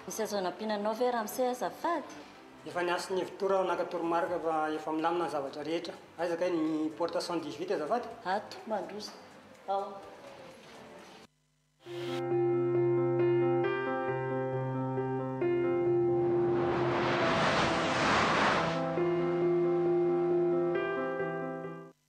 Misy azo anampiana anao ve Ramse azafady? Efa niantso ny Evitour aho naka toromarika fa efa milamina ny zavatra rehetra. Aiza kay ny porte cent dix huit azafady? Ato, mandroso ao.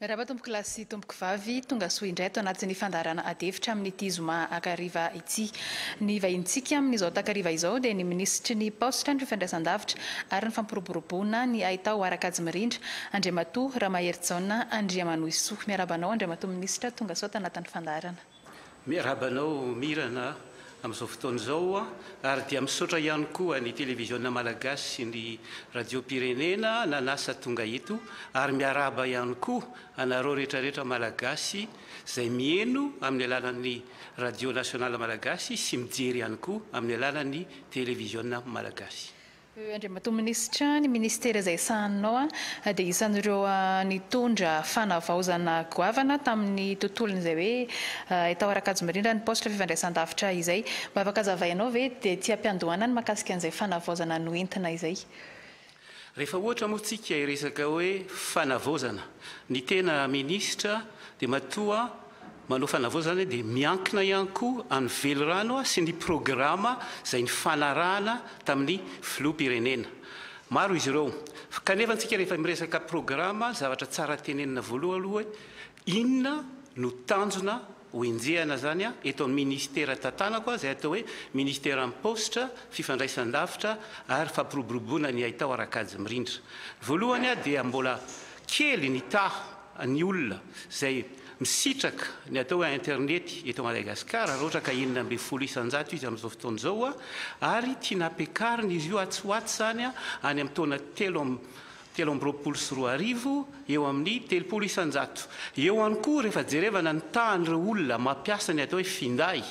Miarahaba tompoko lahy sy tompoko vavy, tonga soa indray ato anatin'ny fandaharana ady hevitra amin'ity zoma akariva ity. Ny vahinintsika amin'izao takariva izao dia ny minisitry ny Paositra, ny fifandraisandavitra ary ny fampiroboroboana ny haitao Harakajmirindra, Andriamatoa Ramaherijaona Andriamanohisoa. Miarahaba anao Andriamatoa Minisitra, tonga soa ato anatin'ny fandaharana. Miarahaba anao Mirana amin'izao fotoana izao ary dia misaotra ihany koa ny Televiziona Malagasy sy ny Radiom-pirenena nanasa tonga eto ary miarahaba ihany koa anareo retraretra Malagasy izay mieno amin'ny alalan'ny Radio Nationale Malagasy sy mijery ihany koa amin'ny alalan'ny Televiziona Malagasy. Andriamatoa Minisitra, ny Ministera izay sahaninao dia isan'ireo nitondra fanavaozana goavana tamin'ny tontolon'izay hoe hay tao Arakajomiriana ny Poste Fifandraisandavitra izay. Mba afaka azavainao ve dia ety am-piandohana ny mahakasika an'izay fanavaozana noentina izay? Rehefa ohatra moa tsika hiresaka hoe fanavaozana, ny tena Minisitra dia matoa Manao fanavaozana zany dia miankina ihany koa any velirano sy ny programa izay nifanarahana tamin'ny filoham-pirenena. Maro izy ireo. Kanefa antsika rehefa miresaka programa, zavatra tsara tenenina voaloha aloha hoe inona no tanjona ho enjehana zany eto amin'ny ministera tantanako izay atao hoe ministeran'ny paositra, fifandraisan-davitra ary fampiroboroboana ny haitao ara-kajy mirindra. Voalohany dia mbola kely ny taha ny olona izay misitraka ny atao hoe internety eto Madagasikara, raha ohatra ka enina ambin'ny folo isan-jato izy amin'izao fotoana izao, ary tiana hampiakarina izy io atsy ho atsy izany any amin'ny taona telo amby telo amby roapolo sy roa arivo eo amin'ny telopolo isan-jato. Eo ihany koa rehefa jerevana ny tahan'ireo olona mampiasa ny atao hoe finday,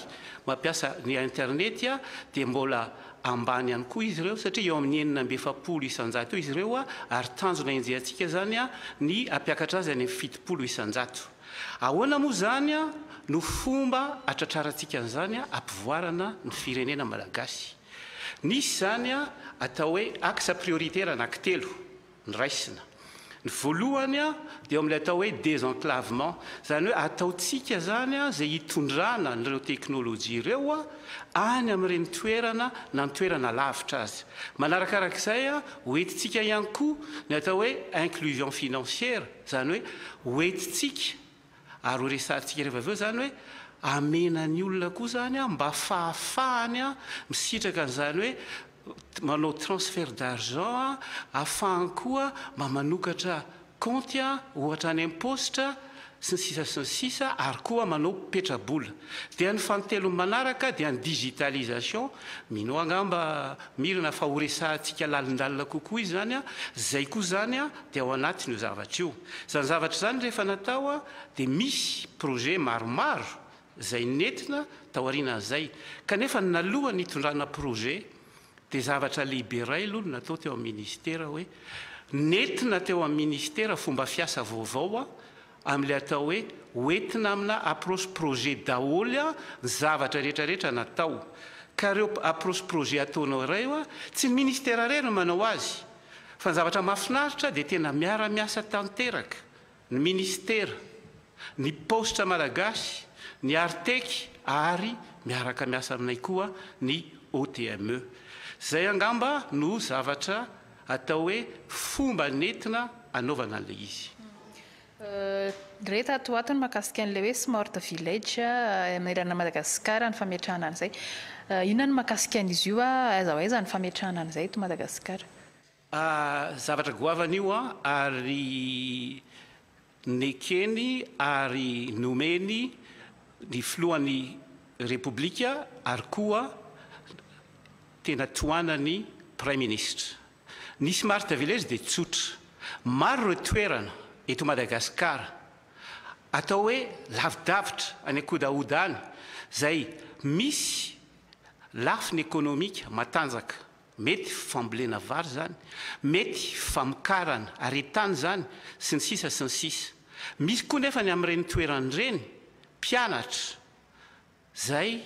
mampiasa ny internety, dia mbola ambany ihany koa izy ireo satria eo amin'ny enina amby efapolo isan-jato eo izy ireo ary tanjona henjehantsika izany ny hampiakatra azy any amin'ny fitopolo isan-jato. Ahoana moa izany no fomba hatratrarantsika an'izany hampivoarana ny firenena malagasy? Nisy izany atao hoe axe prioritaire anankitelo. niraisina. Ny voalohany dia eo amin'ilay atao hoe désenclavement, izany hoe ataontsika izany izay hitondrana an'ireo teknolojia ireo any amin'ireny toerana na ny toerana lavitra azy. Manarakaraka izay, hoentintsika ihany koa ny atao hoe inclusion financière, izany hoe hoentintsika Ary ho resahantsika rehefa avy eo izany hoe amena ny olona koa izany an, mba fahafahany an, misitraka an'izany hoe manao transfert d'argent an, afahany koa mba manokatra kaonty an, ohatra any am-paositra, sy ny sisa sy ny sisa, ary koa manao petrabola. Dia ny fanintelony manaraka dia ny digitalisation, mino aho angamba Mirina fa ho resahantsika lalindalina kokoa izany an, izay koa izany an dia ao anatin'io zavatra io. Izany zavatra izany rehefa natao dia misy projet maromaro izay nentina tao aorianan'izay kanefa nalohan'ny hitondrana projet dia zavatra lehibe iray aloha no natao teo amin'ny ministera hoe nentina teo amin'ny ministera fomba fiasa vaovao amin'ilay atao hoe hoentina amina approche projet daholo ny zavatra rehetrarehetra natao ka ireo approche projet ataonao ireo tsy ny ministera irery no manao azy Fa ny zavatra mahafinaritra dia tena miara-miasa tanteraka ny Ministera, ny Paositra Malagasy, ny Artec ary miaraka miasa aminay koa ny OTME. Izay angamba no zavatra atao hoe fomba nentina anaovana an'ilay izy. Re tato ho ato ny mahakasika an'ilay hoe smart village manerana an'i Madagasikara ny fametrahana an'izay. Inona ny mahakasika an'izy io? Aiza ho aiza ny fametrahana an'izay eto Madagasikara? Zavatra goavana io an, ary nekeny ary nomeny ny filohan'ny Repoblika ary koa tena tohanan'ny Praiminisitra. Ny smart village dia tsotra. Maro ireo toerana eto Madagasikara atao hoe lavidavitra any an-kodahoda any izay misy lafiny ekonomika matanjaka. Mety fambolena vary izany, mety famokarana aretin-tany izany, sy ny sisa sy ny sisa. Misy koa nefa ny amin'ireny toerana ireny mpianatra Zay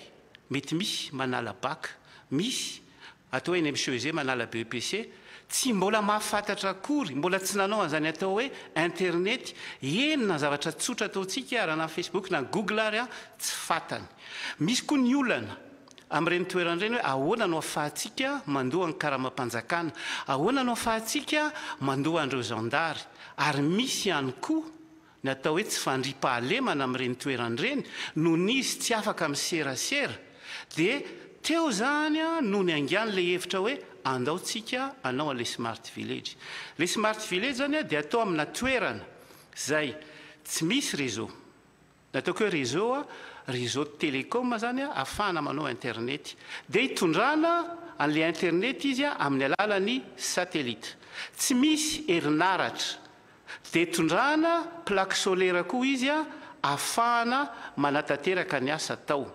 mety misy manala bac, misy atao hoe NMCEG manala BEPC, tsy mbola mahafantatra akory, mbola tsy nanao an'izany atao hoe internety, eny na zavatra tsotra ataontsika raha na Facebook na Google ary an, tsy fatany. Misy koa ny olana amin'ireny toerana ireny hoe ahoana no afahantsika mandoa ny karamam-panjakana, ahoana no afahantsika mandoa an'ireo zandary, ary misy ihany koa, Ny atao hoe tsy fandriam-pahalemana amin'ireny toerana ireny, nony izy tsy afaka miserasera, dia teo izany no niaingàny ilay hevitra hoe andao tsika anao an'ilay smart village. Ilay smart village izany dia atao amina toerana izay tsy misy réseau. Ny ataoko hoe réseau, réseau de télécom izany ahafahana manao internet. Dia itondrana an'ilay internet izy amin'ny alalan'ny satellite. Tsy misy herinaratra Dia tondrahana plaque solaire koa izy afahana manatanteraka ny asa atao.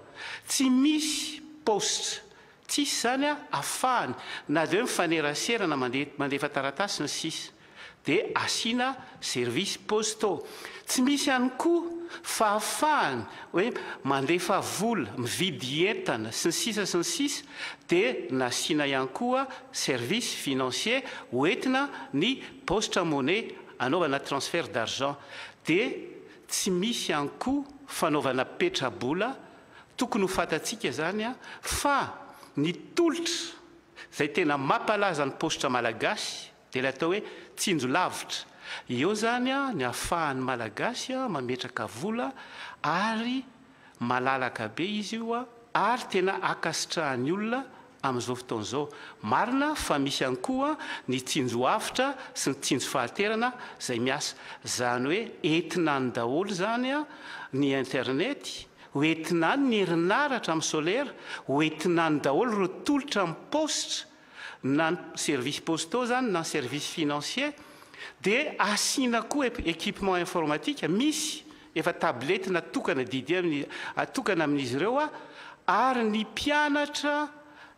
Tsy misy paositra, tsisy izany afahany na dia hoe mifanerasera na mandeha mandefa taratasy ny sisa. Dia asiana services postaux. Tsy misy ihany koa fahafahany hoe mandefa vola, mividy entana sy ny sisa sy ny sisa dia nasiana ihany koa services financiers hoentina ny Paositra en monnaie anaovana transfert d'argent dia tsy misy ihany koa fanaovana petrabola, tokony ho fantatsika izany fa ny tolotra izay tena mampalaza ny paositra malagasy dia ilay atao hoe tsinjo lavitra, eo izany ny ahafahan'ny malagasy mametraka vola ary malalaka be izy io ary tena ankasitrahan'ny olona Amin'izao fotoana izao, marina fa misy ihany koa ny tsinjo avotra sy ny tsinjo fahanterana izay miasa. Izany hoe entina any daholo izany ny internet, ho entina any ny herinaratra amin'ny solaire, ho entina any daholo ireo tolotra amin'ny paositra, na ny services postaux izany na ny services financiers, dia asiana koa équipement informatique, misy. Efa tablette natokana didy amin'ny atokana amin'izy ireo ary ny mpianatra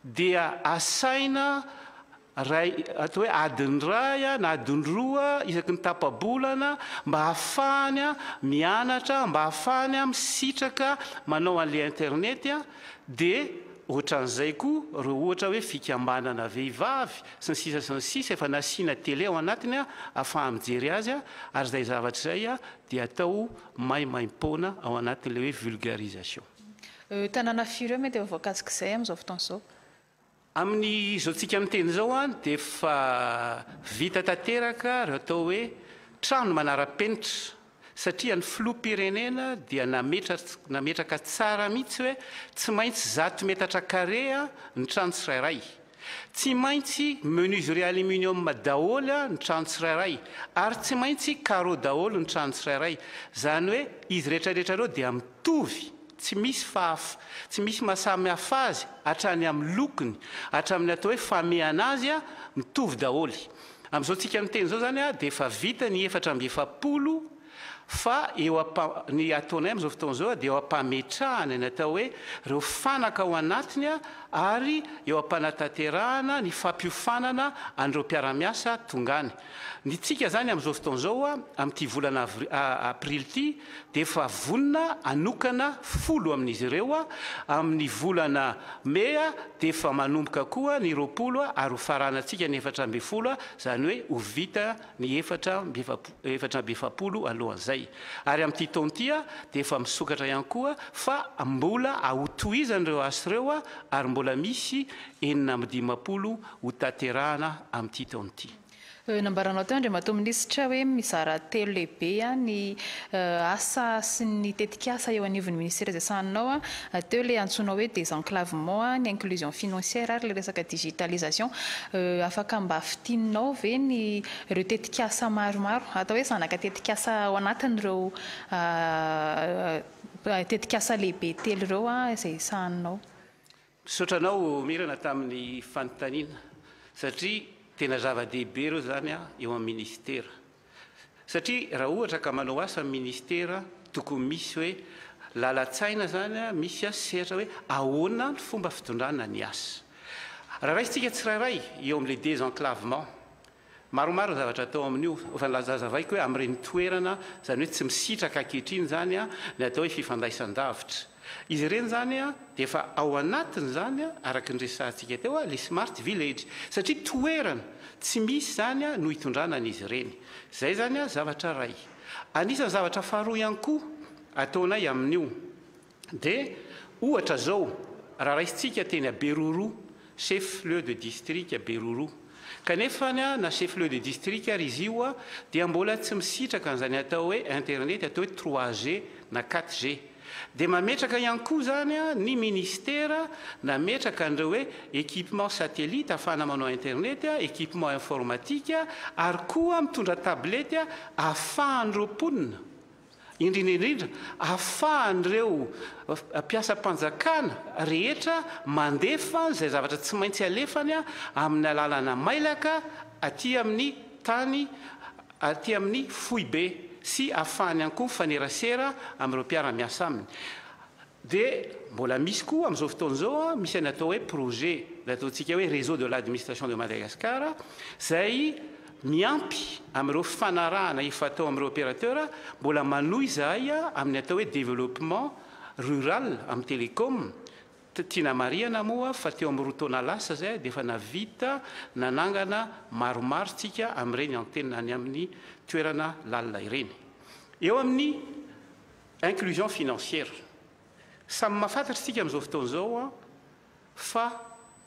dia asaina ray atao hoe adiny iray na adiny roa isaky ny tapa-bolana mba hahafahany mianatra mba hahafahany misitraka manao an'ilay internet dia ohatran'izay koa ireo ohatra hoe fikambanana vehivavy sy ny sisa sy ny sisa efa nasiana tele ao anatiny ahafaha-mijery azy ary izay zavatra izay dia atao maimaim-poana ao anatin'ilay hoe vulgarisation. Ireo tanàna firy ireo mety efa voakasik'izay amin'izao fotoana izao? Amin'izao tsika miteny izao an, dia efa vita tanteraka ireo atao hoe trano manara-penitra, satria ny filoham-pirenena dia nametraka tsara mihitsy hoe tsy maintsy zato metatra karea ny trano tsirairay. Tsy maintsy menuiserie aluminium daholo ny trano tsirairay ary tsy maintsy carreaux daholo ny trano tsirairay. Izany hoe izy rehetrarehetra ireo dia mitovy, tsy misy fahaf, tsy misy maha samy hafa azy hatrany amin'ny lokony, hatramin'ny atao hoe famehana azy, mitovy daholo. Amin'izao tsika miteny izao izany dia efa vita ny efatra amby efapolo. Fa eo ampa, ny ataonay amin'izao fotoana izao dia eo am-pametrahana ny atao hoe ireo fanaka ao anatiny ary eo am-panatanterahana ny fampiofanana an'ireo mpiara-miasa tonga any. Ny tsika izany amin'izao fotoana izao amin'ity volana avri, aprily ity dia efa vonona hanokana folo amin'izy ireo, amin'ny volana mey dia efa manomboka koa ny roapolo ary ho faranantsika ny efatra ambin'ny folo izany hoe ho vita ny efatra amby efatra amby efapolo alohan'izay. Ary amin'ity taona ity dia efa misokatra ihany koa fa mbola ahotohizana ireo asa ireo ary mbola misy enina amby dimampolo hotanterahana amin'ity taona ity. Nambaranao teo Andriamatoa Minisitra hoe mizara telo lehibe ny asa sy ny tetikasa eo anivon'ny ministera izay sahaninao teo ilay antsoinao hoe désenclavement, ny inclusion financière ary ilay resaka digitalisation. Afaka mba fintininao ve ny ireo tetikasa maromaro, atao hoe zanaka tetikasa ao anatin'ireo tetikasa lehibe telo ireo izay sahaninao? Misaotra anao Mirana tamin'ny fanontaniana satria tena zava-dehibe ireo izany eo amin'ny Ministera. Satria raha ohatra ka manao asa ny Ministera tokony misy hoe lalan-tsaina izany, misy sehatra hoe ahoana ny fomba fitondrana ny asa. Raha raisintsika tsirairay eo amin'ilay désenclavement, Maromaro ny zavatra atao amin'io, fa ny lazazavaiko hoe amin'ireny toerana, izany hoe tsy misitraka ankehitriny izany, ny atao hoe fifandraisan-davitra. Izy ireny izany dia efa ao anatin'izany, araka ny resahantsika teo, ilay smart village, satria toerana tsy misy izany no hitondrana an'izy ireny. Izay izany zavatra iray. Anisan'ny zavatra faharoa ihany koa ataonay amin'io, Dia ohatra zao raha raisintsika teny à Beruru, chef lieu de district à Beruru. Kanefa na chef lieu de district ary izy io dia mbola tsy misitraka an'izany atao hoe internet atao hoe trois G na quatre G. Dia mametraka ihany koa izany ny ministera nametraka an'ireo hoe équipement satellite ahafahana manao internet, équipement informatique ary koa mitondra tablette ahafahan'ireo mponina Indrindra indrindra, ahafahan'ireo mpiasam-panjakana rehetra mandefa izay zavatra tsy maintsy alefany amin'ny alalana mailaka aty amin'ny tany, aty amin'ny foibe sy ahafahany ihany koa mifanerasera amin'ireo mpiara-miasa aminy. Dia mbola misy koa amin'izao fotoana izao an, misy an'ny atao hoe projet, ilay ataontsika hoe réseau de l'administration de Madagascar, izay miampy amin'ireo fifanarahana efa atao amin'ireo opérateurs, mbola manohy izahay amin'ny atao hoe développement rural amin'ny télécom, tiana marihana moa fa teo amin'ny roa taona lasa izay dia efa navita nanangana maromaro tsika amin'ireny antenne any amin'ny toerana lalina ireny. Eo amin'ny. Inclusion financière, samy mahafantatra isika amin'izao fotoana izao fa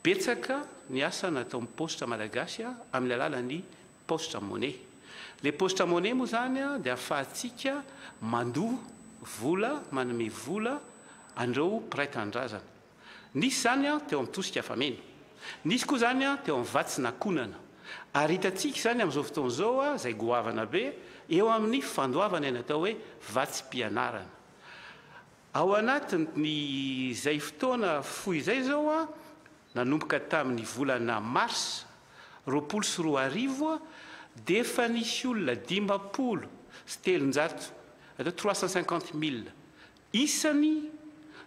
betsaka ny asa nataon'ny paositra malagasy amin'ny alalan'ny paositra money. Ilay paositra money moa izany dia ahafahantsika mandoa vola, manome vola an'ireo mpiray tanindrazana. Nisy izany teo amin'ny tosika fameno. Nisy koa izany teo amin'ny vatsy na konana. Ary hitantsika izany amin'izao fotoana izao izay goavana be eo amin'ny fandoavana ny atao hoe vatsim-pianarana. Ao anatin'izay fotoana fohy izay izao, nanomboka tamin'ny volana marsa roapolo sy roa arivo, dia efa nisy olona dimampolo sy telonjato, atao hoe trois cent cinquante mille, Isany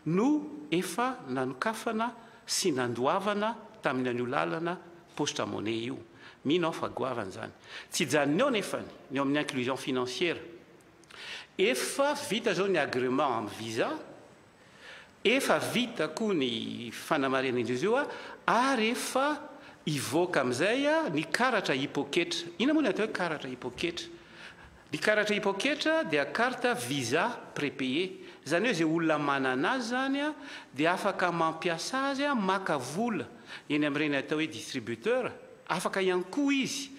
no efa nanokafana sy nandoavana tamin'ny an'io lalana paositra money io. Mino aho fa goavana izany. Tsy hijanona eo nefany ny eo amin'ny inclusion financière. Efa vita izao ny agrément amin'ny visa, efa vita koa ny fanamarihana indroa io ary efa hivoaka amin'izay ny karatra hipoketra. Inona moa ny atao hoe karatra hipoketra? Ny karatra hipoketra dia carte visa prépayé, izany hoe izay olona manana azy izany dia afaka mampiasa azy maka vola eny amin'ireny atao hoe distributeur, afaka ihany koa izy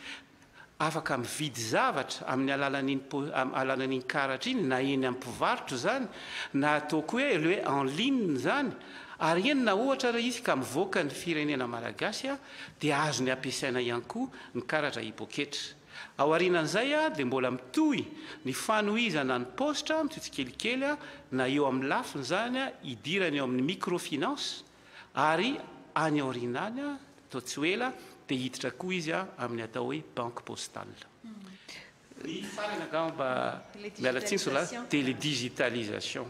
afaka mividy zavatra amin'ny alalan'iny alalan'iny karatra iny na eny amin'ny mpivarotra izany na ataoko hoe le en ligne izany ary eny na ohatra ary izy ka mivoaka ny firenena malagasy dia azony ampiasaina ihany koa ny karatra hipoketra. Aorianan'izay dia mbola mitohy ny fanohizana ny paositra amin'ity tsikelikely na eo amin'ny lafiny izany idirany eo amin'ny microfinance ary any aoriana any toa tsy ho ela dia hiditra koa izy amin'ny atao hoe banque postale. Ny farany angamba, miala tsiny sola, dia le digitalisation.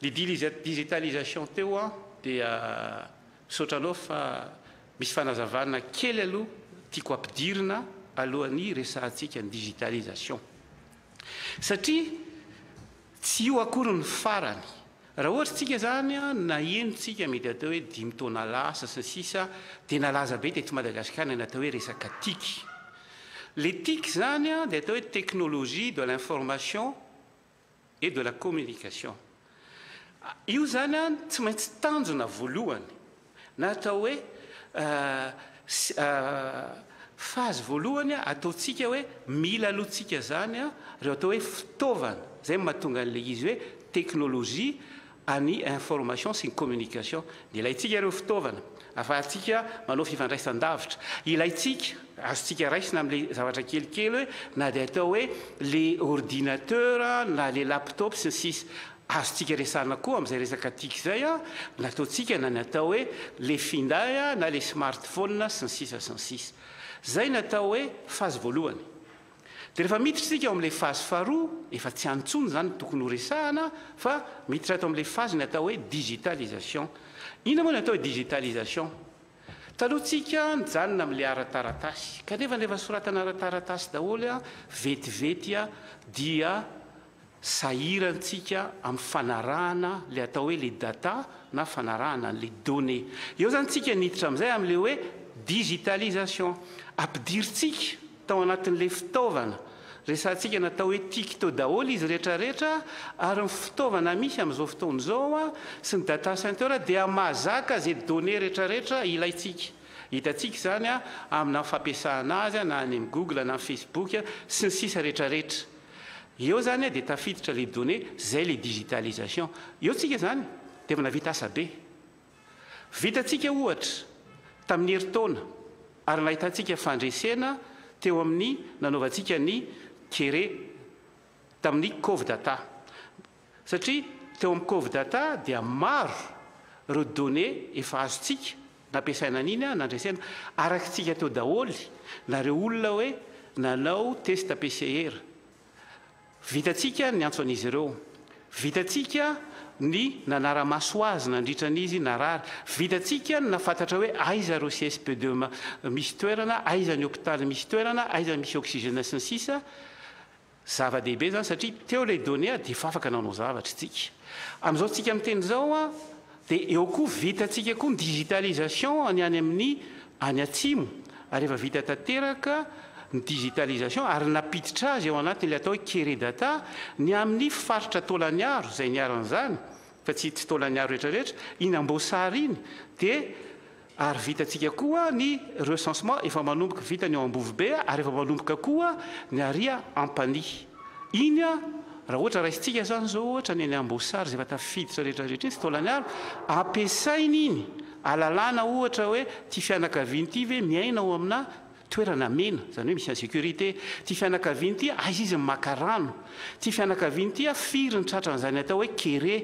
Le digitalisation teo dia. Misaotra anao fa misy fanazavana kely aloha tiako ampidirina alohan'ny resahantsika ny digitalisation. Satria tsy io akory ny farany. Raha ohatra tsika izany naheno tsika mety atao hoe dimy taona lasa sy ny sisa dia nalaza be teto Madagascar ny natao hoe resaka tic. Le tic izany dia atao hoe technologie de l'information. et de la communication. Io izany an tsy maintsy tanjona voalohany na atao hoe phase voalohany ataontsika hoe mila aloha tsika izany an ireo atao hoe fitaovana izay no mahatonga an'ilay izy hoe teknolojia an'ny information sy ny communication. Dia ilaintsika ireo fitaovana ahafahantsika manao fifandraisan-davitra. Ilaintsika, azontsika raisina amin'ilay zavatra kelikely hoe na dia atao hoe ilay ordinateur na ilay laptop sy ny sisa. Azontsika resahana koa amin'izay resaka tic izay nataontsika na ny atao hoe ilay finday na ilay smartphone sy ny sisa sy ny sisa. Izay ny atao hoe phase voalohany. Dia rehefa miditra isika ao amin'ilay fazy faharoa, efa tsy any intsony izany no tokony horesahana fa miditra ato amin'ilay fazy ny atao hoe digitalisation. Inona moa ny atao hoe digitalisation? Taloha tsika nijanona amin'ilay ara-taratasy, kanefa rehefa soratana ara-taratasy daholo vetivety dia Sahirantsika amin'ny fanarahana ilay atao hoe ilay data na fanarahana an'ilay données. Eo izany tsika niditra amin'izay amin'ilay hoe digitalisation. Ampidirintsika tao anatin'ilay fitaovana resahantsika natao hoe tic tao daholo izy rehetra rehetra ary ny fitaovana misy amin'izao fotoana izao sy ny data center dia mahazaka izay données rehetra rehetra ilaintsika. Hitantsika izany amina fampiasana azy na any amin'ny google na amin'ny facebook sy ny sisa rehetra rehetra. Eo zany dia tafiditra les données, zay le digitalisation. Eo tsika zany dia efa navita asa be. Vitantsika ohatra tamin'ny herintaona ary nahitantsika fandresena teo amin'ny nanaovantsika ny kere tamin'ny Covdata. Satria teo amin'ny Covdata dia maro ireo données efa azontsika nampiasaina an'iny an, nandresena araka tsika teo daholo na ireo olona hoe nanao test PCR. Vitantsika ny antso an'izy ireo. Vitantsika ny nanara-maso azy nandritra ny izy narary. Vitantsika ny nahafantatra hoe aiza ireo CSP de misy toerana, aiza ny hopitaly misy toerana, aiza misy oxygène sy ny sisa. Zava-dehibe izany satria teo ilay données dia efa afaka nanao zavatra isika. Amin'izao tsika miteny izao dia eo koa vitantsika koa ny digitalisation ny any amin'ny any atsimo ary efa vita tanteraka ny digitalisation ary nampiditra azy ao anatin'ilay atao hoe Keredata ny amin'ny faritra Taolagnaro izay niharan'izany fa tsy Taolagnaro rehetra rehetra iny Amboasary iny dia Ary vitantsika koa ny recensement efa manomboka vita ny ao Ambovobe ary efa manomboka koa ny ary Ampanihy. Iny raha ohatra raisintsika izany izao ohatra ny any Amboasary izay efa tafiditra rehetra rehetra iny tsy taolany ala, ampiasaina iny alalana ohatra hoe ity fianakaviana ity ve miaina ao amina toerana mena, izany hoe misy en sécurité, ity fianakaviana ity aiza izy no maka rano, ity fianakaviana ity firy ny tratran'izany atao hoe kere,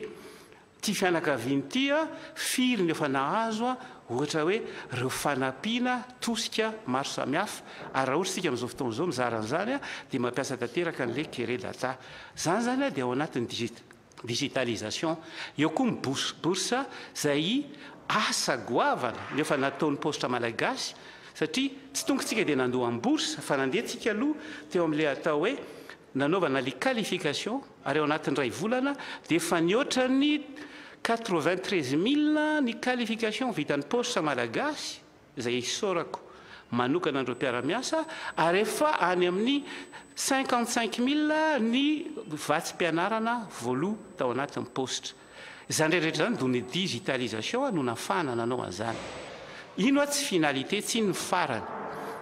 Ty fianakaviany ty firy no efa nahazo ohatra hoe reo fanampiana tosika maro samihafa ary raha ohatra sika amin'izao fotoana izao mizara an'izany dia mampiasa tanteraka an'le kere data zany zany dia ao anatin'ny digit digitalisation eo koa ny bous bourse zay asa goavana no efa nataon'ny paositra malagasy satria tsy tonga tsika dia nandoa ny bourse fa nandeha tsika aloha teo amin'le atao hoe Nanaovana ilay qualification ary ao anatin'ny iray volana dia efa nihoatra ny quatre-vingt-treize mille ny qualification vitan'ny paositra malagasy izay isaorako manokana an'ireo mpiara-miasa ary efa any amin'ny cinquante-cinq mille ny vatsim-pianarana voaloa tao anatin'ny paositra. Izany rehetrarehetra izany do ny digitalisation no nafahana nanao an'izany. Iny hoa tsy finalité tsy iny ny farany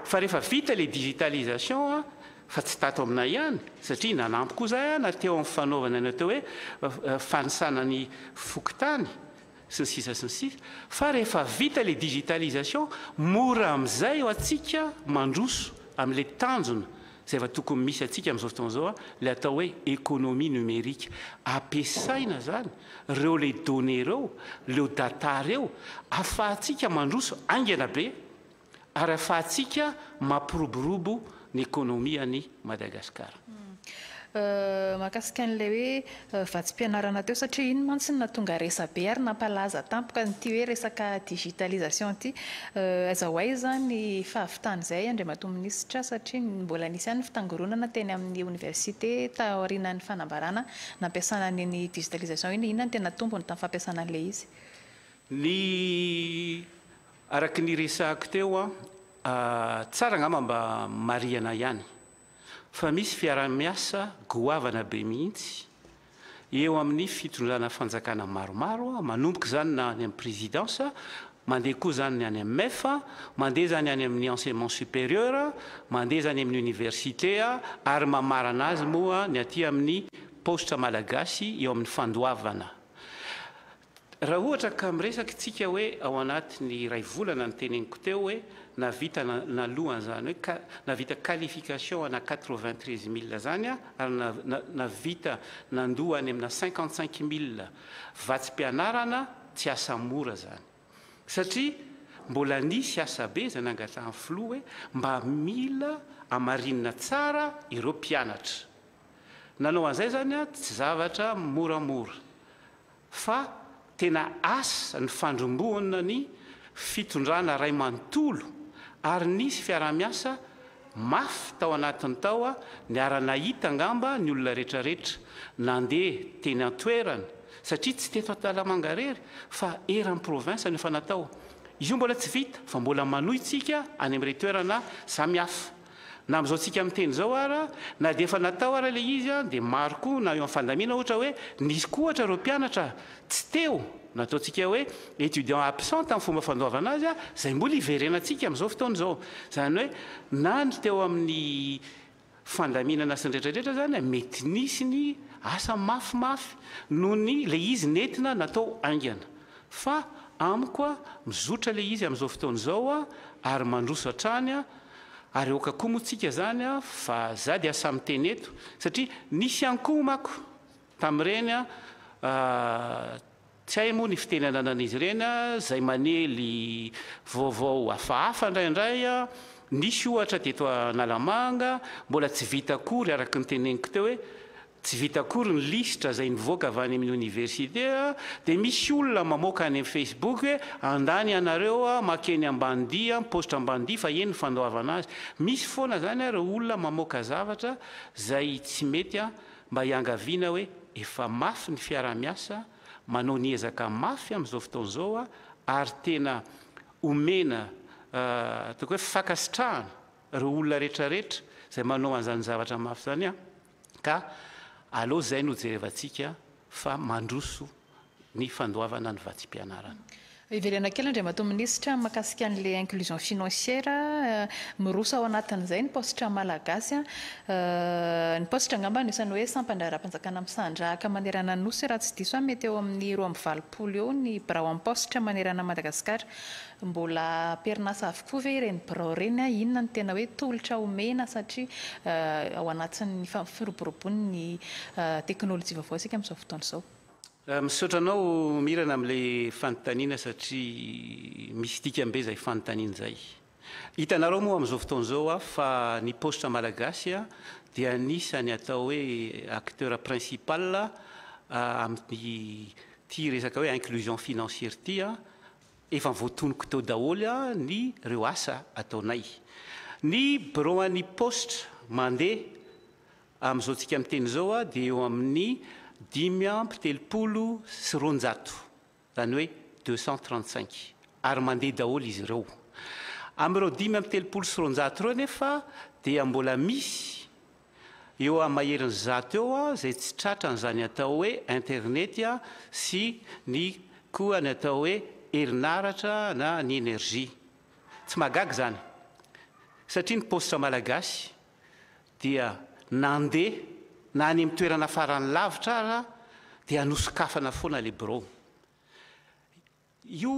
fa rehefa vita ilay digitalisation fa tsy tato aminay ihany, satria nanampy koa izahay ana teo amin'ny fanaovana ny atao hoe fanisana ny fokontany sy ny sisa sy ny sisa, fa rehefa vita ilay digitalisation, mora amin'izay ho antsika mandroso amin'ilay tanjona izay efa tokony misy antsika amin'izao fotoana izao, ilay atao hoe économie numérique. Ampiasaina izany ireo ilay données ireo, ireo data ireo, ahafahantsika mandroso haingana be. Ary afahantsika mampiroborobo ny ekonomia an'i Madagasikara. Mahakasika an'ilay hoe vatsim-pianarana teo satria iny mantsy no nahatonga resa-be ary nampalaza tampoka an'ity hoe resaka digitalisation ity. Aiza ho aiza ny fahavitan'izay Andriamatoa Minisitra satria mbola nisy ihany ny fitangoronana teny amin'ny Oniversite taorianan'ny fanambarana nampiasana an'iny digitalisation iny. Inona no tena tombony tamin'ny fampiasana an'ilay izy? Ny Araka ny resahako teo, tsara angamba mba marihana ihany fa misy fiaraha-miasa goavana be mihitsy eo amin'ny fitondrana fanjakana maromaro, manomboka izany na any amin'ny Présidence, mandeha koa izany ny any amin'ny MEF, mandeha izany any amin'ny Enseignement supérieur, mandeha izany amin'ny Université ary mamarana azy moa ny aty amin'ny paositra malagasy eo amin'ny fandoavana. Raha ohatra ka miresaka itsika hoe ao anatin'ny iray volana ny teneniko teo hoe nahavita naloa an'izany hoe ka nahavita qualification ana quatre vingt treize mille zany a ary na nahavita nandoa any amina cinquante cinq mille vatsim-pianarana tsy asa mora zany satria mbola nisy asa be izay nangatrahan'ny filoha hoe mba mila amarinina tsara ireo mpianatra nanao an'izay zany a tsy zavatra moramora fa tena asa nifandrombohana ny fitondrana ray manontolo ary nisy fiaraha-miasa mafy tao anatiny tao niara-nahita angamba ny olona retraretra nandeha teny an-toerana satria tsy teto Antalamanga rery fa eran'ny province no efa natao io mbola tsy vita fa mbola manoy tsika any amin'irey toerana samihafa. Na amin'izao tsika miteny izao ara, na dia efa natao ara ilay izy an, dia maro koa na eo amin'ny fandamiana ohatra hoe nisy koa ohatra ireo mpianatra tsy teo, na ataontsika hoe étudiant absent tamin'ny fomba fandoavana azy an, izay mbola iverenantsika amin'izao fotoana izao. Izany hoe na ny teo amin'ny fandaminana sy ny rehetra rehetra izany an, mety nisy ny asa mafy mafy noho ny ilay izy nentina natao haingana. Fa amiko an, mizotra ilay izy amin'izao fotoana izao an, ary mandroso hatrany an, Ary aoka koa moa tsika zany a fa za dia asa miteny eto satria nisy ihany koa mako tamin'ireny a tsy hay moa ny fiteny ananan'izy ireny a zay manely vaovao hafahafa indraindray a nisy ohatra teto analamanga mbola tsy vita akory araka ny teneniko teo hoe Tsy vita akory ny lisitra izay mivoaka avy any amin'ny oniversite dia misy olona mamoaka any amin'ny facebook hoe andany ianareo makeny ambany dia mipaositra ambany dia fa eny ny fandoavana azy. Misy foana izany ary olona mamoaka zavatra izay tsy mety mba hiangaviana hoe efa mafy ny fiaraha-miasa manao ny ezaka mafy amin'izao fotoana izao ary tena omena ataoko hoe fankasitrahana ireo olona rehetra rehetra izay manao an'izany zavatra mafy izany. Ka aleo izay no jerevantsika fa mandroso ny fandoavana ny vatsim-pianarana. Hiverena kely Andriamatoa Minisitra mahakasika an'ilay inclusion financière, miroso ao anatin'izay ny paositra malagasy. Ny paositra angamba no isan'ny hoe sampan-draharaham-panjakana misandrahaka manerana ny Nosy raha tsy diso aho, mety eo amin'ny roa amby valopolo eo ny birao am-paositra manerana an'i Madagasikara. Mbola am-perinasa avokoa ve ireny birao ireny? Inona no tena hoe tolotra omena satria ao anatin'ny fampiroboroboana ny teknolojia vaovao isika amin'izao fotoana izao? Misaotra anao Mirana amin'ilay fanontaniana satria misy dikany be izay fanontaniana izay. Hitanareo moa amin'izao fotoana izao hoa fa ny paositra malagasy dia anisan'ny atao hoe acteur principal amin'ity resaka hoe inclusion financière ity Efa voatonoko teo daholo ny reo asa ataonay. Ny birao an'ny paositra mandeha amin'izao tsika miteny izao dia eo amin'ny dimy amby telopolo sy roanjato, izany hoe deux cent trente cinq, ary mandeha daholo izy ireo. Amin'ireo dimy amby telopolo sy roanjato ireo anefa dia mbola misy. Eo amin'ny maherin'ny zato eo izay tsy tratra an'izany atao hoe internety sy ny koa ny atao hoe herinaratra na ny energie. Tsy mahagaga izany satria ny paositra malagasy dia nandeha na any amin'ny toerana farany lavitra ara dia nosokafana foana ilay birao. Io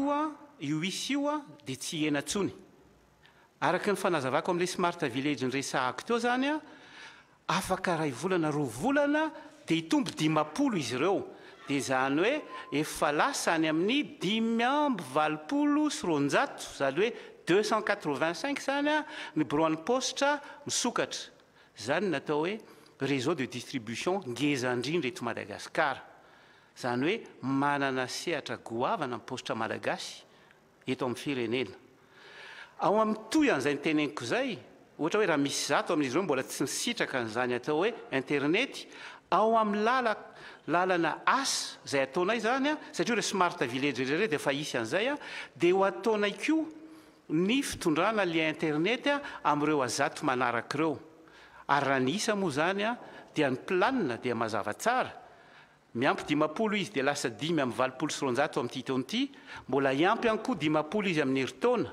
io isa io dia tsy hihena intsony. Araka ny fanazavako amin'ilay Smart Village niresahako teo izany, afaka iray volana, roa volana dia hitombo dimampolo izy ireo. Dia izany hoe efa lasa any amin'ny dimy amby valopolo sy roanjato, izany hoe deux cent quatre vingt cinq izany ny biraon'ny paositra misokatra. Izany no atao hoe réseau de distribution ngeza indrindra eto Madagasikara. Izany hoe manana sehatra goavana ny paositra malagasy eto amin'ny firenena. Ao amin'ny toy an'izay noteneniko izay, ohatra hoe raha misy zato amin'izy ireo mbola tsy nisitraka an'izany atao hoe interinety, ao amin'ny lala lalana asa izay ataonay izany an, satria ireo smart village ireo dia efa hisy an'izay an, dia ho ataonay koa ny fitondrana lien interinety an amin'ireo azato manaraka ireo. Ary raha ny isa moa izany an dia ny planina dia mazava tsara Miampy dimampolo izy dia lasa dimy amby valopolo sy roanjato amin'ity taona ity, mbola hiampy ihany koa dimampolo izy amin'ny herintaona,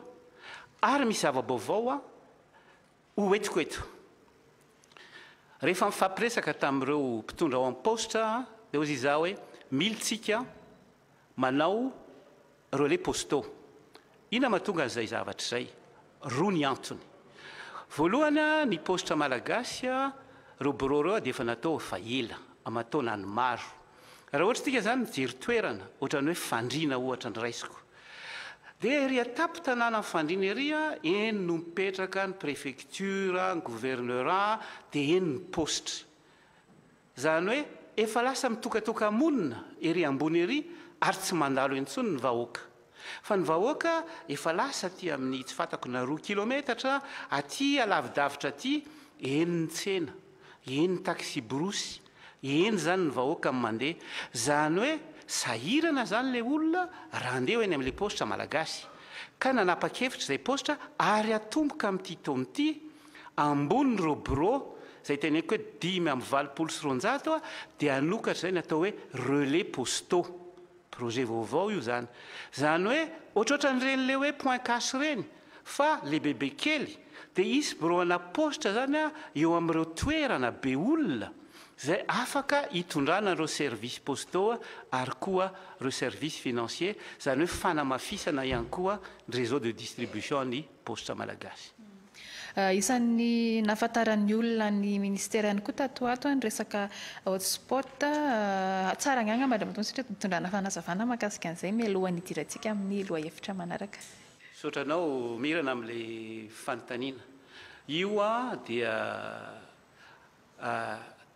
ary misy zava-baovao ho entiko eto. Rehefa nifampiresaka tamin'ireo mpitondra ao amin'ny Paositra dia hozy izaho hoe, mily tsika, Manao relais postaux. Inona mahatonga an'izay zavatra izay? Roa ny antony. Voalohany, ny paositra malagasy, ireo birao ireo dia efa natao efa ela, aman-taonany maro. Raha ohatra isika izany mijery toerana, ohatran'ny hoe Fandriana ohatra no raisiko, dia ery an-tampon-tanànan'i Fandriana ery, eny no mipetraka ny prefektiora, ny governeura, dia eny ny paositra. Izany hoe efa lasa mitokatoka-monina ery ambony ery ary tsy mandalo intsony ny vahoaka. Fa ny vahoaka efa lasa aty amin'ny tsy fantako na roa kilometatra aty alavidavitra aty, eny ny tsena, eny ny taksiborosy, eny izany ny vahoaka no mandeha. Izany hoe sahirana izany ilay olona raha handeha eny amin'ilay paositra malagasy. Ka nanapa-kevitra izay paositra ary atomboka amin'ity taona ity ambony ireo birao izay teneniko hoe dimy amby valopolo sy roanjato dia hanokatra izay ny atao hoe relais postaux. Projet vaovao io izany. Izany hoe ohatrohatran'ireny ilay hoe point cash ireny fa lehibebe kely dia hisy birao ana paositra izany eo amin'ireo toerana be olona izay afaka hitondrana an'ireo services postaux ary koa ireo services financiers izany hoe fanamafisana ihany koa ny réseau de distribution ny Paositra Malagasy. Isan'ny nahafantaran'ny olona ny Ministera ihany koa tato ho ato ny resaka hotspot. Tsara angaha angamba Andriamatoa Misitraka ny hitondrana fanazavana mahakasika an'izay mialohan'ny hidirantsika amin'ny lohahevitra manaraka. Misaotra anao Mirana amin'ilay fanontaniana. Io dia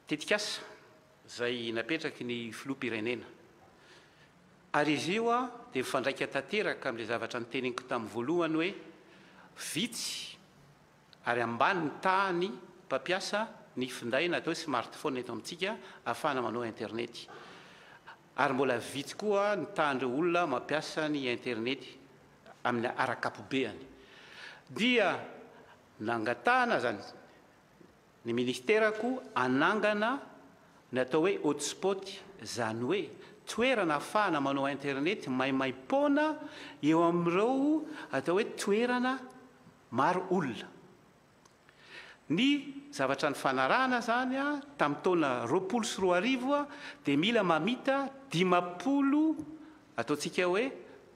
tetikasa. izay napetraky ny Filoham-pirenena. Ary izy io dia mifandraika tanteraka amin'ilay zavatra noteneniko tamin'ny voalohany hoe vitsy ary ambany ny tahan'ny mpampiasa ny finday na atao hoe smartphone eto amintsika ahafahana manao internety. Ary mbola vitsy koa ny tahan'ireo olona mampiasa ny internety amin'ny ara-ankapobeany. Dia nangatahana izany Ny Ministera koa hanangana ny atao hoe hotspot, izany hoe toerana hafahana manao internet maimaim-poana eo amin'ireo atao hoe toerana maro olona. Ny zavatra nifanarahana izany tamin'ny taona roapolo sy roa arivo dia mila mamita dimampolo ataontsika hoe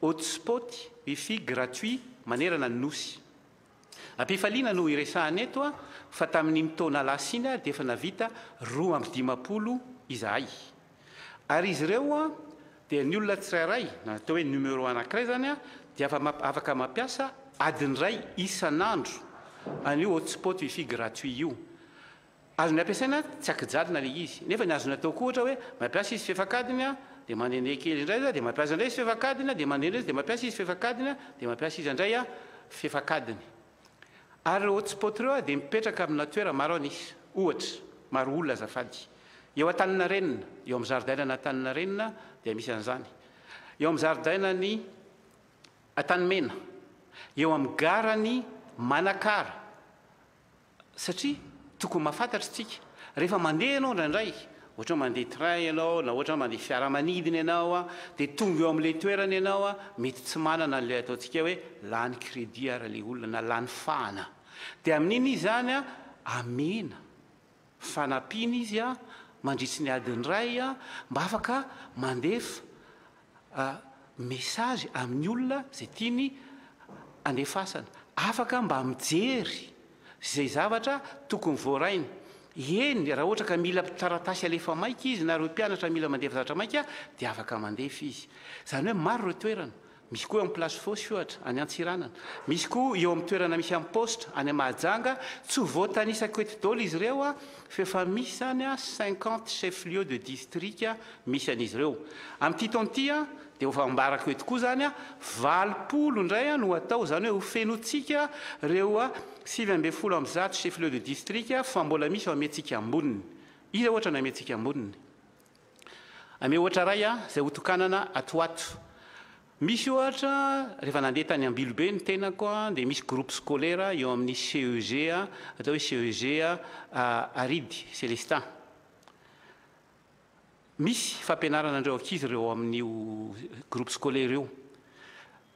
hotspot wifi gratuit manerana ny Nosy. Am-pifaliana no hiresahana eto fa tamin'iny taona lasa iny dia efa navita roa amby dimampolo izahay. Ary izy ireo dia ny olona tsirairay, na atao hoe numéro anankiray izany, dia afaka mampiasa adiny iray isan'andro an'io hotspot wifi gratuit io. Azony ampiasaina tsy ankijalina ilay izy. Nefa ny azony atao koa ohatra hoe mampiasa izy fefa kadiny a, dia mandende kely indray izy a, dia mampiasa indray izy fefa kadiny a, dia mandende izy dia mampiasa izy fefa kadiny a, dia mampiasa izy andray a, fefa kadiny. Ary ireo hotspot ireo a dia mipetraka amina toera maro an isa. Ohatra, maro olona azafady. Eo Antaninarenina, eo amin'ny zaridainana Antaninarenina dia misy an'izany. Eo amin'ny zaridainan'i Antanimena, eo amin'ny garan'i Manakara. satria tokony mahafantatra isika rehefa mandeha ianao indraindray ohatra mandeha train ianao na ohatra mandeha fiaramanidina ianao a dia tonga eo amin'ilay toerana ianao a mety tsy manana an'ilay ataontsika hoe lany crédit ary ilay olona na lany fahana dia amin'iny izy izany a amena fanampiana izy a mandritry ny adiny iray a mba afaka mandefa message amin'ny olona izay tiany andefasana. Afaka mba mijery izay zavatra tokony voarainy. Eny, raha ohatra ka mila taratasy alefa maika izy na ireo mpianatra mila mandefa zavatra maika dia afaka mandefa izy. Izany hoe maro ireo toerana. Misy koa eo amin'ny Place Fosse ohatra, any Antsiranana. Misy koa eo amin'ny toerana misy an'i Poste, any Mahajanga. Tsy ho voatanisako eto daholo izy ireo F'efa misy izany cinquante chefs lieux de district misy an'izy ireo. Amin'ity taona ity dia ho fambarako eto koa izany, valopolo indray no hatao, izany hoe ho fenointsika ireo sivy ambin'ny folo amby zato chefs lieux de district fa mbola misy ao Ametsika Amboniny. Iza ohatra ny Ametsika Amboniny? Ameo ohatra iray izay hotokanana ato ho ato. Misy ohatra, rehefa nandeha tany Ambilobe ny tenako dia misy groupe scolaire eo amin'ny CEG atao hoe CEG Aridy Celestin. Misy fampianarana an'ireo ankizy ireo ao amin'io groupe scolaire io.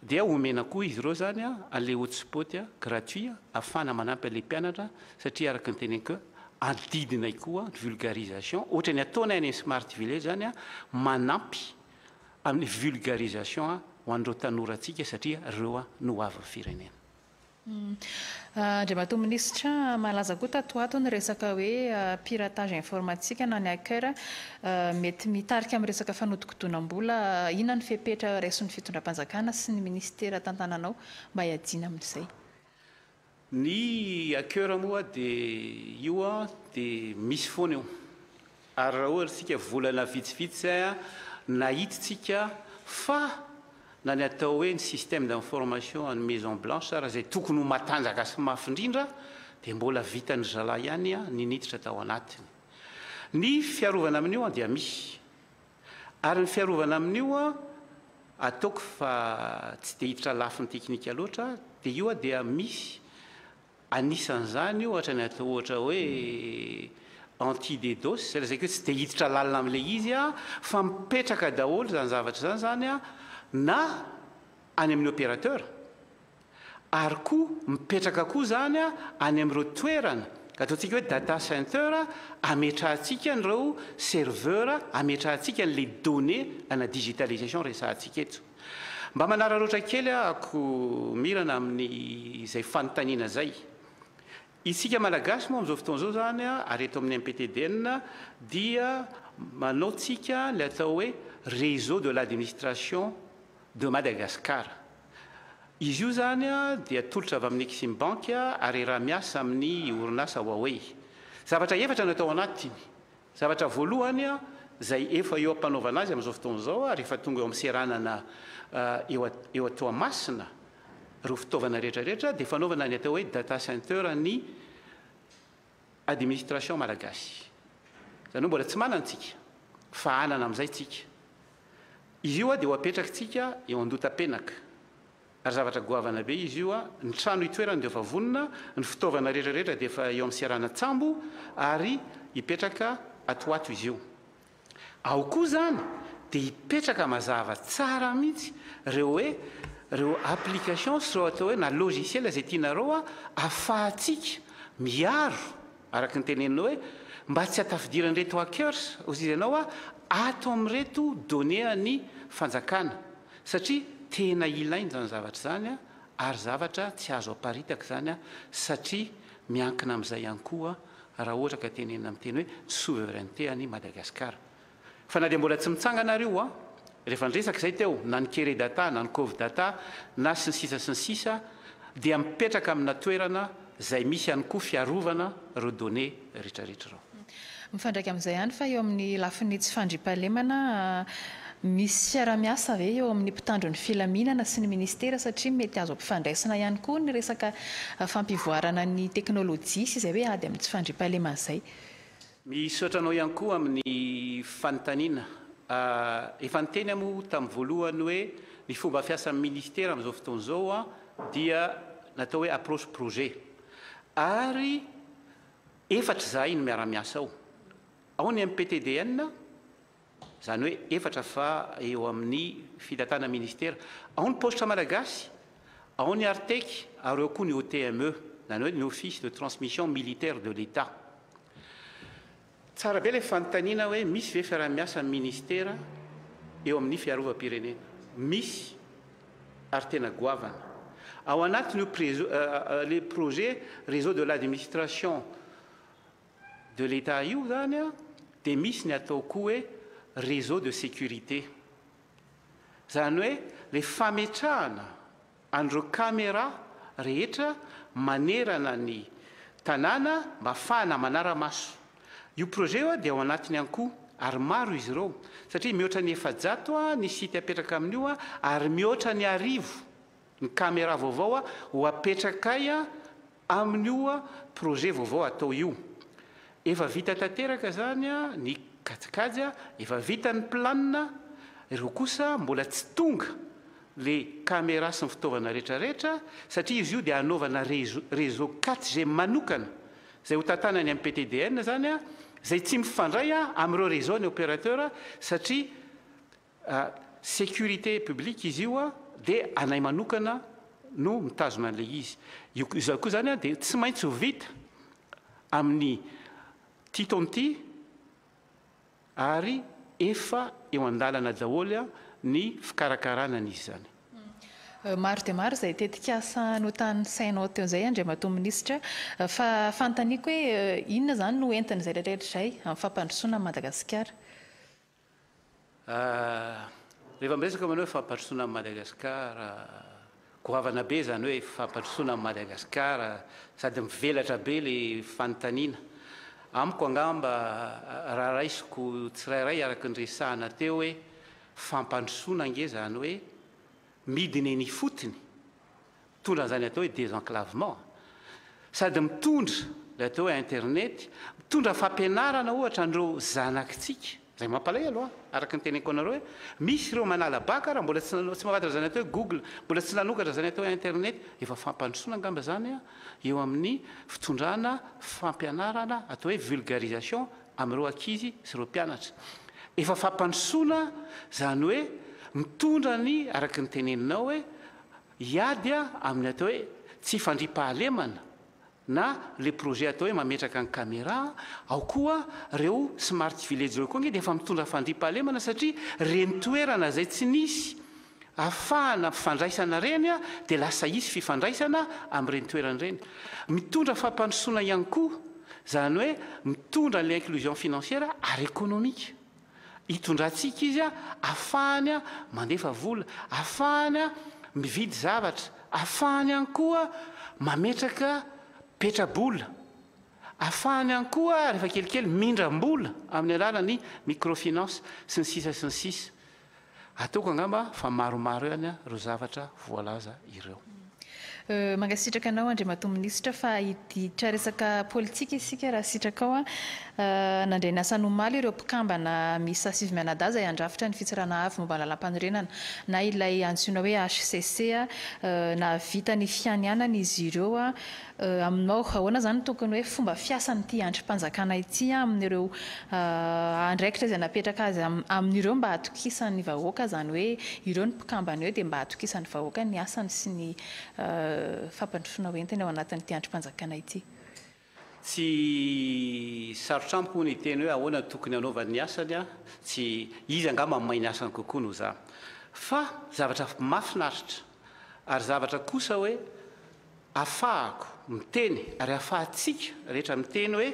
Dia omena koa izy ireo izany an'ilay hotspot gratuit ahafahana manampy an'ilay mpianatra satria araka ny teneniko adidinay koa ny vulgarisation, ohatra ny ataonay any amin'ny smart village any manampy. amin'ny vulgarisation ho an'ireo tanorantsika satria ireo no ho avin'ny firenena. Andriamatoa Minisitra, malaza koa tato ho ato ny resaka hoe piratage informatique na ny hacker mety mitarika amin'ny resaka fanodikodinam-bola. Inona ny fepetra raison'ny Fitondram-panjakana sy ny Minisitera tantananao mba hiadiana amin'izay? Ny hacker moa dia io dia misy foana io ary raha ohatra isika volana vitsivitsy izay nahittsika fa na ny atao hoe ny système d'information an'ny maison blanche ary izay tokony ho matanjaka sy mafy indrindra dia mbola vitan'ny zalahy ihany ny niditra tao anatiny. Ny fiarovana amin'io dia misy. Ary ny fiarovana amin'io a, ataoko fa tsy dia hiditra lafiny teknika loatra aho, dia io a dia misy anisan'izany ohatra ny atao ohatra hoe anti DDoS, izay lazaiko hoe tsy dia hiditra lalina amin'ilay izy aho fa mipetraka daholo izany zavatra izany izany a, na any amin'ny opérateur, Ary koa mipetraka koa izany any amin'ireo toerana, ataontsika hoe data center, ametrahantsika an'ireo serveur, ametrahantsika an'ilay données ana digitalisation resahantsika eto. Mba manararaotra kely aho Mirana amin'izay fanontaniana izay. Isika Malagasy moa amin'izao fotoana izao izany ary eto amin'ny MPTDN dia manaontsika ilay atao hoe réseau de l'administration de Madagascar. Izy io izany dia tolotra avy amin'ny Exim Bank ary iaraha-miasa amin'ny orinasa Huawei. Zavatra efatra no atao anatiny. Zavatra voalohany izay efa eo am-panaovana azy amin'izao fotoana izao ary efa tonga eo amin'ny seranana eo a Toamasina ireo fitaovana rehetra rehetra dia fanaovana ny atao hoe data center ny Administration Malagasy. Izany hoe mbola tsy manana tsika, fa hanana amin'izay tsika. Izy io dia ho apetrakitsika eo an-dota-penaka, ary zavatra goavana be izy io, ny trano itoerany dia efa vonona, ny fitaovana rehetra rehetra dia efa eo amin'ny seranan-tsambo, ary hipetraka ato ho ato izy io. Ao koa zany dia hipetraka mazava tsara mihitsy reo hoe reo application sy reo atao hoe na logiciel zay tianareo a afahatsika miaro araka ny teneninao hoe mba tsy atafidiran'ireto hackers hozy ianao a ato amin'ireto données an'ny fanjakana satria tena ilaina zany zavatra zany a ary zavatra tsy azo aparitaka zany a satria miankina amin'izay ihany koa raha ohatra ka tenenina amin'ny teny hoe souveraineté an'i Madagasikara. Fa na dia mbola tsy mitsangana ary io, rehefa niresaka izay teo, na ny Keredata, na ny Covidata, na sy ny sisa sy ny sisa, dia mipetraka amina toerana izay misy ihany koa fiarovana ireo données rehetrarehetra ireo. Mifandraika amin'izay ihany fa eo amin'ny lafiny tsy fandriampahalemana, Misy fiarahamiasa ve eo amin'ny mpitandro ny filaminana sy ny ministera satria mety azo ampifandraisina ihany koa ny resaka fampivoarana ny teknolojia sy izay hoe ady amin'ny tsy fandriampahalemana izay? Misaotra anao ihany koa amin'ny fanontaniana. Efa niteny aho moa tamin'ny voalohany hoe ny fomba fiasan'ny ministera amin'izao fotoana izao dia natao hoe approche projet ary efatra izahay no miara-miasa ao. Ao ny MPTDN, Izany hoe efatra fa eo amin'ny fitatana ministera. Ao ny paositra malagasy, ao ny Artec ary ao koa ny OTME, izany hoe ny Office de Transmission Militaire de l'Etat. Tsara be ilay fanontaniana hoe misy ve fiaraha-miasa amin'ny ministera eo amin'ny fiarovam-pirenena? Misy ary tena goavana. Ao anatin'io ilay projet Réseau de l'administration de l'Etat io zany a de misy ny atao koa hoe réseau de sécurité zany hoe le fametrahana an'ireo camera rehetra manerana ny tanàna mba afahana manara-maso io projet io a dia ao anatiny ihany koa ary maro izy ireo satria mihoatra ny efajato a ny site apetraka amin'io a ary mihoatra ny arivo ny camera vaovao a ho apetraka ay a Amin'io projet vaovao atao io, efa vita tanteraka izany ny kajikajy, efa vita ny plan, ireo kosa mbola tsy tonga ilay camera sy ny fitaovana rehetra rehetra satria izy io dia hanaovana réseau 4G manokana izay ho tantana any amin'ny PTDN izany izay tsy mifandray amin'ireo réseau ny opérateur satria Sécurité publique izy io dia anay manokana no mitazona an'ilay izy. Io izao koa izany dia tsy maintsy ho vita amin'ity taona ity ary efa eo an-dalana daholo ny fikarakarana an'izy izany. Maro dia maro izay tetikasa notanisainao teo izay Andriamatoa Minisitra fa fanontaniako hoe inona izany no entin'izay rehetra izay amin'ny fampandrosoana an'i Madagasikara? Rehefa miresaka manao hoe fampandrosoana an'i Madagasikara, goavana be izany hoe fampandrosoana an'i Madagasikara, sady mivelatra be ilay fanontaniana. Amiko angamba raha raisiko tsirairay araka ny resahana teo hoe fampandrosoana ange izany hoe midina eny ifotony Mitondra an'izany atao hoe désenclavement, sady mitondra ilay atao hoe internet, mitondra fampianarana ohatra an'ireo zanakitsika, izay mampalahelo an, araka ny teneniko anareo hoe misy ireo manala bac ary mbola tsy tsy mahafantatra izany atao hoe google, mbola tsy nanokatra izany atao hoe internet, efa fampandrosoana angamba izany an, eo amin'ny fitondrana fampianarana atao hoe vulgarisation amin'ireo ankizy sy ireo mpianatra. Efa fampandrosoana izany hoe mitondra ny araka ny teneninao hoe Hiady aho amin'ny atao hoe tsy fandriampahalemana na le projet atao hoe mametraka ny camera ao koa reo smart village reo koa nge dia efa mitondra fandriampahalemana satria reny toerana zay tsy nisy afahana fifandraisana reny dia lasa hisy fifandraisana amin'ireny toerana ireny mitondra fampandrosoana ihany koa zany hoe mitondra an'ilay inclusion financière ary économique. Hitondrantsika izy ahafahany mandefa vola, ahafahany mividy zavatra, ahafahany ihany koa mametraka petra-bola, ahafahany ihany koa rehefa kelikely mindram-bola amin'ny alalan'ny microfinance sy ny sisa sy ny sisa. Ataoko angamba fa maromaro ihany ireo zavatra voalaza ireo. Mankasitraka anao Andriamatoa Minisitra fa hiditra resaka politika isika raha sitrakao. Nandray ny asany omaly ireo mpikambana miisa sivy mianadahy izay handrafitra ny Fitsarana Avo momba ny Lalàmpanorenana na ilay antsoina hoe HCC. Nahavita ny fianianana izy ireo Aminao, ahoana izany no tokony hoe fomba fiasan'ity andrim-panjakana ity amin'ireo andraikitra izay napetraka azy amin'ireo mba hatokisan'ny vahoaka, izany hoe ireo ny mpikambana eo dia mba hatokisan'ny vahoaka ny asany sy ny fampandrosoana ho entiny ao anatin'ity andrim-panjakana ity? Tsy sarotra amiko ny hiteny hoe ahoana no tokony hanaovany ny asany, tsy izy angamba mahay ny asany kokoa noho izaho. Fa zavatra mahafinaritra ary zavatra kosa hoe, Afahako miteny ary afahantsika rehetra miteny hoe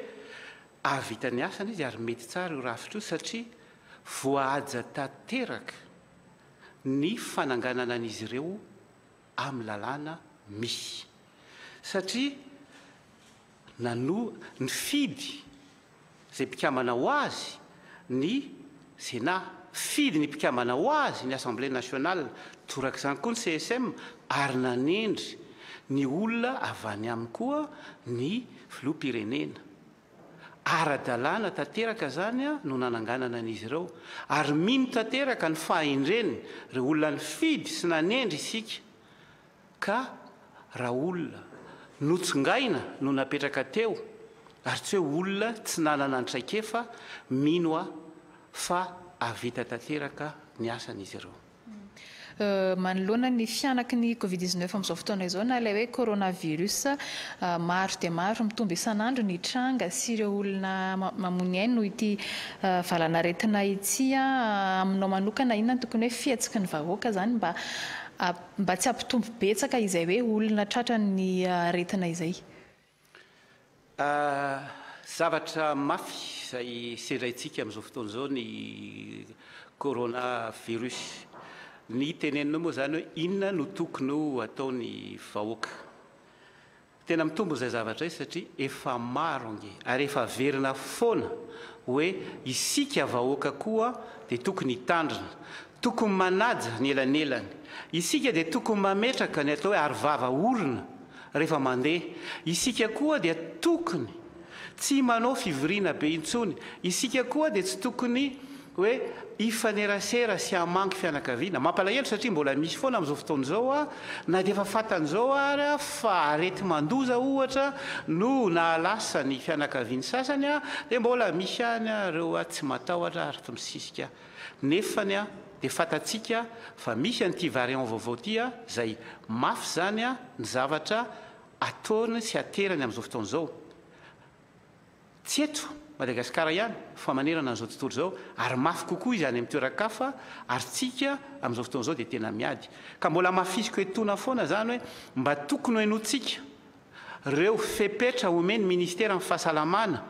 hahavita ny asany izy ary mety tsara io rafitra io satria voahaja tanteraka ny fananganana an'izy ireo amin'ny lalàna misy satria nanoa, nifidy, izay mpikambana ho azy ny Sénat, fidy ny mpikambana ho azy ny Assemblée nationale, torak'izany koa ny CSM ary nanendry ny olona avy any aminy koa ny Filoham-pirenena. Ara-dalàna tanteraka izany no nananganana an'izy ireo ary mino tanteraka ny fahendreny ireo olona nifidy sy nanendry isika Ka raha olona notsongaina no napetraka teo ary tsy hoe olona tsy nanana ny traikefa, mino aho fa hahavita tanteraka ny asany izy ireo. Manoloana ny fihanaky ny Covid dix neuf amin'izao fotoana izao na ilay hoe coronavirus, maro dia maro mitombo isan'andro ny tranga sy ireo olona mamonia aina noho ity valanaretina ity. Aminao manokana inona no tokony hoe fihetsiky ny vahoaka izany mba Mba tsy hampitombo betsaka izay hoe olona tratrany ny aretina izay. Zavatra mafy izay sendraintsika amin'izao fotoana izao ny Corona virus. Ny teneninao moa izany hoe inona no tokony ho ataon'ny vahoaka. Tena mitombo izay zavatra izay satria efa maro ange ary efa averina foana hoe isika vahoaka koa dia tokony hitandrina, tokony manaja ny elanelany, isika dia tokony mametraka ny atao hoe aro vava orona rehefa mandeha, isika koa dia tokony tsy manao fivoriana be intsony, isika koa dia tsy tokony hoe hifanerasera sy hamangy fianakaviana. Mampalahelo satria mbola misy foana amin'izao fotoana izao na dia efa fantan'izao ary fa areti-mandoza ohatra no nahalasa ny fianakavian'ny sasany dia mbola misy ihany ireo tsy matahotra ary tsy misisika nefa dia fantatsika fa misy an'ity variant vaovao ity izay mafy izany ny zavatra ataony sy aterany amin'izao fotoana izao. tsy eto Madagasikara ihany fa manerana an'izao tontolo izao ary mafy kokoa izy any amin'ny toeran-kafa ary tsika amin'izao fotoana izao dia tena miady ka mbola hamafisiko etoana foana izany hoe mba tokony henointsika ireo fepetra omen'ny ministeran'ny fahasalamana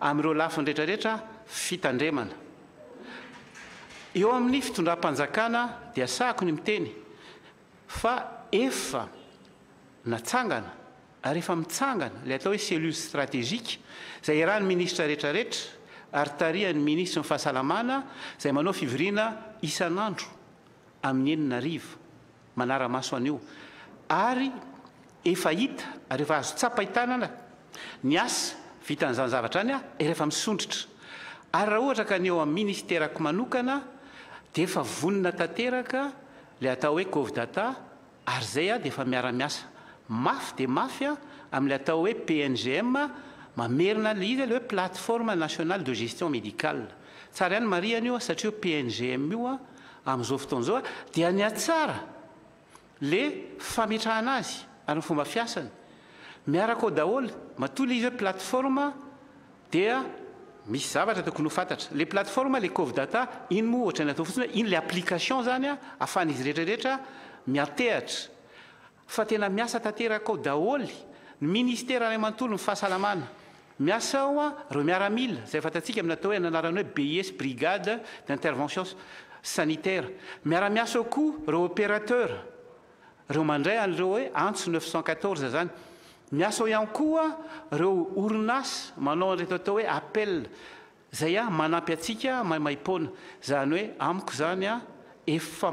amin'ireo lafiny rehetra rehetra fitandremana eo amin'ny fitondram-panjakana dia sahako ny miteny Fa efa natsangana ary efa mitsangana ilay atao hoe cellule stratégique izay iarahan'ny minisitra rehetrarehetra ary tarihan'ny minisitry ny Fahasalamana izay manao fivoriana isan'andro amin'ny enina hariva manara-maso an'io ary efa hita ary efa azo tsapain-tanana ny asa vitan'izany zavatra any ary efa misondrotra ary raha ohatra ka ny eo amin'ny ministerako manokana dia efa vonona tanteraka Ilay atao hoe Covdata ary izay dia efa miara-miasa mafy dia mafy amin'ilay atao hoe PNGM mamerina an'ilay izy ilay hoe Plateforme Nationale de Gestion Médicale. Tsara ihany ny marihana io satria io PNGM io amin'izao fotoana izao dia nihatsara ilay fametrahana azy ary ny fomba fiasany miaraka ao daholo matoa ilay izy hoe Plateforme Dia misy zavatra tokony ho fantatra. Ilay plateforme, ilay Covdata, iny moa ohatran'ny atao fotsiny hoe iny ilay application izany ahafahan'izy rehetra rehetra miantehatra. Fa tena miasa tanteraka ao daholo ny Ministera iray manontolo ny fahasalamana. Miasa ao ireo miaramila, izay fantatsika amin'ny atao hoe, amin'ny anarany hoe BIS, Brigade d'intervention sanitaire. Miara-miasa ao koa ireo opérateurs Reo mandray an'ireo hoe antso neuf cent quatorze zany. Miasa ao ihany koa reo orinasa manao an'ireto atao hoe appel zay an manampy antsika maimaimpoana. Zany hoe amiko zany an efa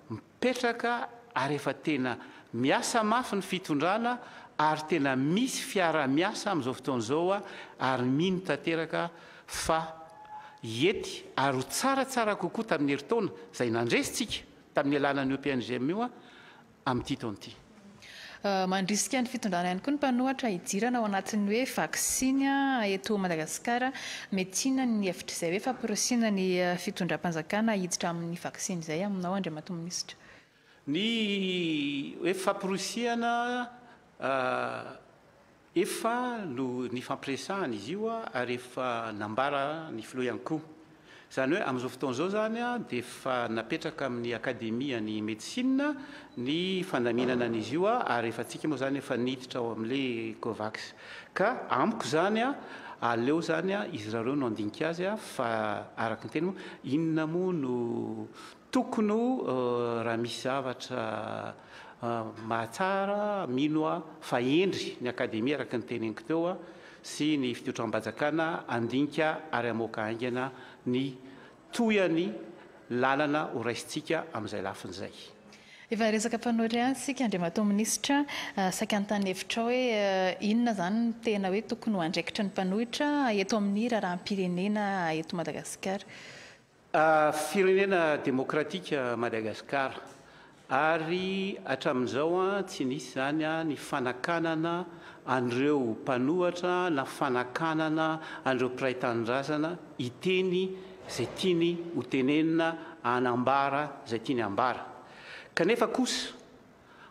mipetraka ary efa tena miasa mafy ny fitondrana ary tena misy fiarahamiasa amin'izao fotoana izao an ary mino tanteraka fa hiety ary ho tsaratsara kokoa tamin'ny herintaona zay nandresintsika. tamin'ny alalan'io PNGM io amin'ity taona ity. Mandrisika ny fitondrana ihany koa ny mpanohatra hidirana ao anatin'ny hoe vaksiny eto Madagasikara. Metiana ny hevitr'izay hoe famporisihina ny fitondram-panjakana hiditra amin'ny vaksiny izay aminao Andriamatoa Minisitra? Ny hoe famporisihina Efa no nifampiresahana izy io ary efa nambara ny filoha ihany koa. Izany hoe amin'izao fotoana izao izany dia efa napetraka amin'ny akademian'ny medecine ny fandaminana an'izy io ary efa antsika moa izany efa niditra ao amin'ilay Covax. Ka amiko izany aleo izany izy irareo no handinika azy fa araka ny teny moa inona moa no Tokony ho raha misy zavatra mahatsara mino aho fa hendry ny Akademia araka ny teneniko teo sy ny fitotram-bajakana handinika ary hamoaka haingana ny tohany lalana ho raisintsika amin'izay lafiny izay. Efa resaka mpanao irery isika Andriamatoa Minisitra, saika hanontany hevitrao hoe inona izany no tena hoe tokony ho andraikitry ny mpanohitra eto amin'ny raharaham-pirenena eto Madagasikara? Firenena demokratika Madagascar ary hatramin'izao tsy nisy izany ny fanakanana an'ireo mpanohatra na fanakanana an'ireo mpiray tanindrazana hiteny izay tiany ho tenenina hanambara izay tiany hambara kanefa kosa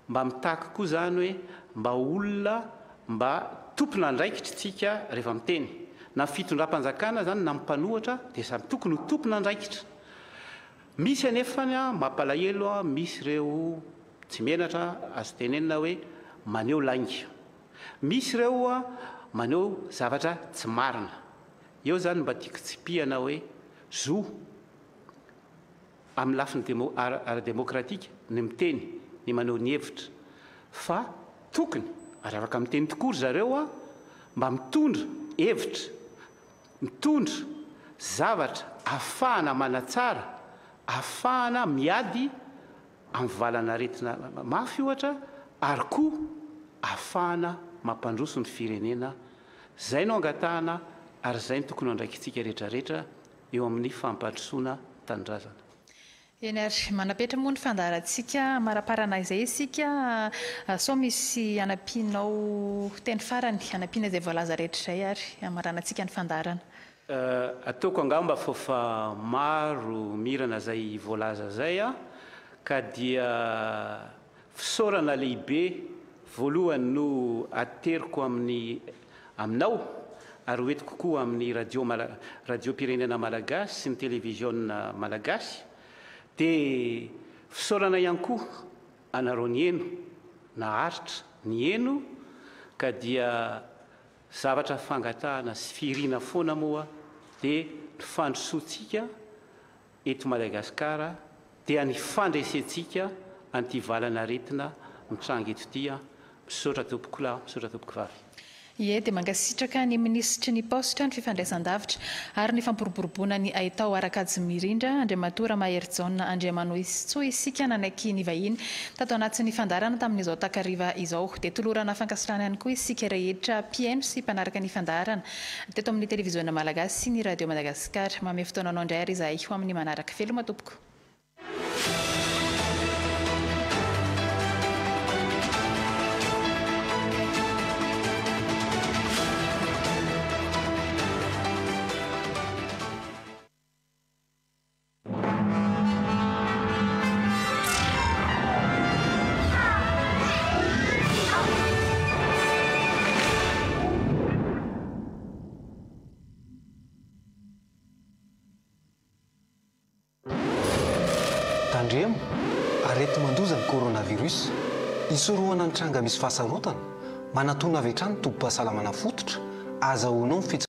Mba mitaky koa izany hoe mba ho olona mba tompon'andraikitry tsika rehefa miteny. Na ny fitondram-panjakana izany na ny mpanohatra dia samy tokony ho tompon'andraikitra. Misy anefa ny mampalahelo, misy ireo tsy menatra azo tenenina hoe maneho lainga. Misy ireo maneho zavatra tsy marina. Eo izany mba tiako tsipihana hoe zo. amin'ny lafiny ara-demokratika ny miteny, ny maneho ny hevitra fa tokony ary afaka miteny tokoa ry zareo mba mitondra hevitra, mitondra zavatra ahafahana manatsara, ahafahana miady amin'ny valan'aretina mafy ohatra ary koa ahafahana mampandroso ny firenena. Izay no angatahana ary izay no tokony ho andraikintsika rehetra rehetra eo amin'ny fampandrosoana tanindrazana. Eny ary, manapetra moa ny fandaharantsika amaraparana izay isika, sao misy hanampianao teny farany hanampiana izay voalaza rehetra izay ary hamaranantsika ny fandaharana. Ataoko angamba fo fa maro mirana izay voalaza izay ka dia. Fisaorana lehibe voalohany no ateriko amin'ny aminao ary hoentiko koa amin'ny radio mala radiom-pirenena malagasy sy ny televiziona malagasy dia fisaorana ihany koa anareo nihaino naharitra nihaino ka dia zavatra fangatahana sy fihirina foana moa dia ny fandrosoantsika eto Madagasikara dia ny fandresentsika an'ity valan'aretina mitranga eto ity an! Misaotra tompokolahy, misaotra tompokovavy. Ie, dia mankasitraka ny Minisitry ny Paositra, ny Fifandraisandavitra ary ny Fampiroboroboana ny Haitao Ara-kajimirindra, Andriamatoa Ramaherijaona Andriamanohizitsoa isika nanaiky nivahiny tato anatin'ny fandaharana tamin'izao takariva izao. Dia tolorana fankasitrahana ihany koa isika rehetra mpihaino sy mpanaraka ny fandaharana Teto amin'ny Televiziona Malagasy sy ny Radio Madagasikara. Mamehy fotoananao indray àry izahay ho amin'ny manaraka. Veloma tompoko. Tandremo, Areti-mandoza ny coronavirus. Hisorohana ny tranga misy fahasarotana, manatona avy hatrany ny tobim-pahasalamana fototra azahoanao ny fitsipika.